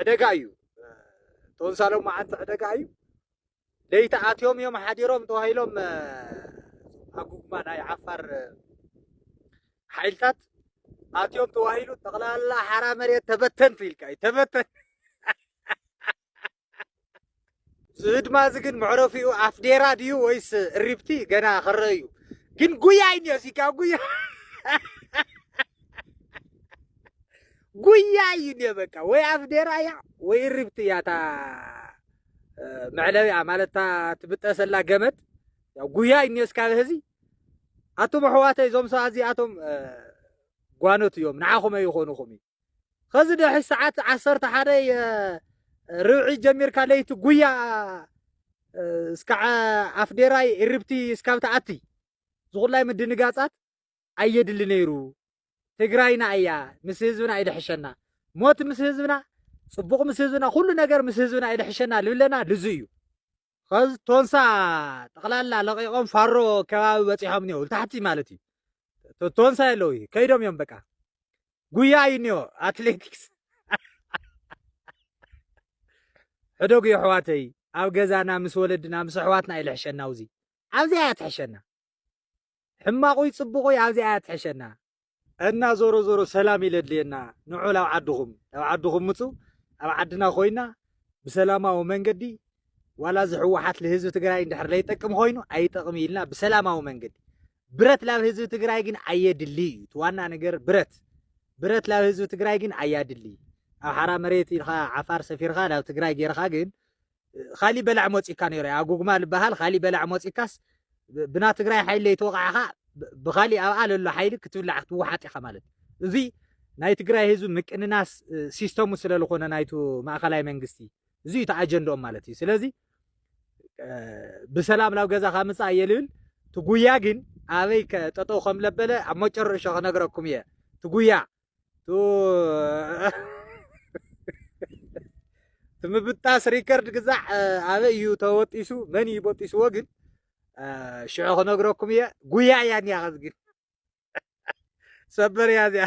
ዕደጋ እዩ ቶንሳ ሎማዓንቲ ዕደጋ እዩ ለይቲ ኣትዮም እዮም ሓዲሮም ተባሂሎም ኣጉጉማ ናይ ዓፋር ሓይልታት ኣትዮም ተዋሂሉ ጠቕላላ ሓራ መሬት ተበተንቱ ኢልካ እዩ ተበተን እዚ ህድማ እዚ ግን መዕረፊኡ ኣፍዴራ ድዩ ወይስ እሪብቲ ገና ክረአ እዩ ግን ጉያ እዩ እኒኦ እዚካ ጉያ ጉያ እዩ እኒኦ በቃ ወይ ኣፍዴራ እያ ወይ እሪብቲ እያ እታ መዕለቢኣ ማለት እታ ትብጠሰላ ገመድ ያው ጉያ እዩ እኒኦ እስካብ ህዚ ኣቱም ኣሕዋተይ እዞም ሰባት እዚኣቶም ጓኖት እዮም ንዓኹም ኣይኾኑኹም እዩ ኸዚ ድሕሪ ሰዓት ዓሰርተ ሓደ ርብዒ ጀሚርካ ለይቲ ጉያ እስካዕ ኣፍዴራይ እርብቲ እስካብ ትኣቲ ዝኹላይ ምድንጋጻት ኣየድሊ ነይሩ። ትግራይና እያ ምስ ህዝብና ይድሕሸና ሞት ምስ ህዝብና ጽቡቕ ምስ ህዝብና ኩሉ ነገር ምስ ህዝብና ይድሕሸና ልብለና ልዙ እዩ ኸዝ ቶንሳ ጠቕላላ ለቒቖም ፋሮ ከባቢ በፂሖም እኒኦ ታሕቲ ማለት እዩ ቶንሳ የለው ከይዶም እዮም በቃ ጉያ እዩ እኒኦ ኣትሌቲክስ ሕደጉ የሕዋተይ ኣብ ገዛና ምስ ወለድና ምስ ኣሕዋትና እዩ ልሕሸና ውዚ ኣብዚኣ እያ ትሕሸና ሕማቁይ ጽቡቁይ ኣብዚኣ እያ ትሕሸና። እና ዞሮ ዞሮ ሰላም እዩ ለድልየና ንዑ ላብ ዓድኹም ናብ ዓድኹም ምጹ ኣብ ዓድና ኮይና ብሰላማዊ መንገዲ ዋላ እዚ ሕዋሓት ልህዝቢ ትግራይ እንድሕር ለይጠቅም ኾይኑ ኣይጠቅም ኢልና ብሰላማዊ መንገዲ ብረት ላብ ህዝቢ ትግራይ ግን ኣየድሊ እዩ እቲ ዋና ነገር ብረት ብረት ላብ ህዝቢ ትግራይ ግን ኣያድሊ ኣብ ሓራ መሬት ኢልካ ዓፋር ሰፊርካ ናብ ትግራይ ጌርካ ግን ኻሊእ በላዕ ሞጺካ ነይሩ ኣጉግማ ዝበሃል ኻሊእ በላዕ ሞጺካስ ብና ትግራይ ሓይሊ ለይተወቃዕኻ ብኻሊእ ኣብኣ ለሎ ሓይሊ ክትብላዕ ክትወሓጥ ኢኻ ማለት እዚ ናይ ትግራይ ህዝቢ ምቅንናስ ሲስተሙ ስለ ዝኾነ ናይቱ ማእኸላይ መንግስቲ እዚ እዩ ኣጀንድኦም ማለት እዩ ስለዚ ብሰላም ናብ ገዛኻ ምፃእ እየ ልብል ትጉያ ግን ኣበይ ጠጠው ከም ለበለ ኣብ መጨረሾ ክነግረኩም እየ ትጉያ ትምብጣስ ሪከርድ ግዛዕ ኣበይ እዩ ተወጢሱ መን እዩ በጢስዎ ግን ሽዑ ክነግረኩም እየ ጉያ እያ እኒኣ ከዚ ግን ሰበር እያ እዚኣ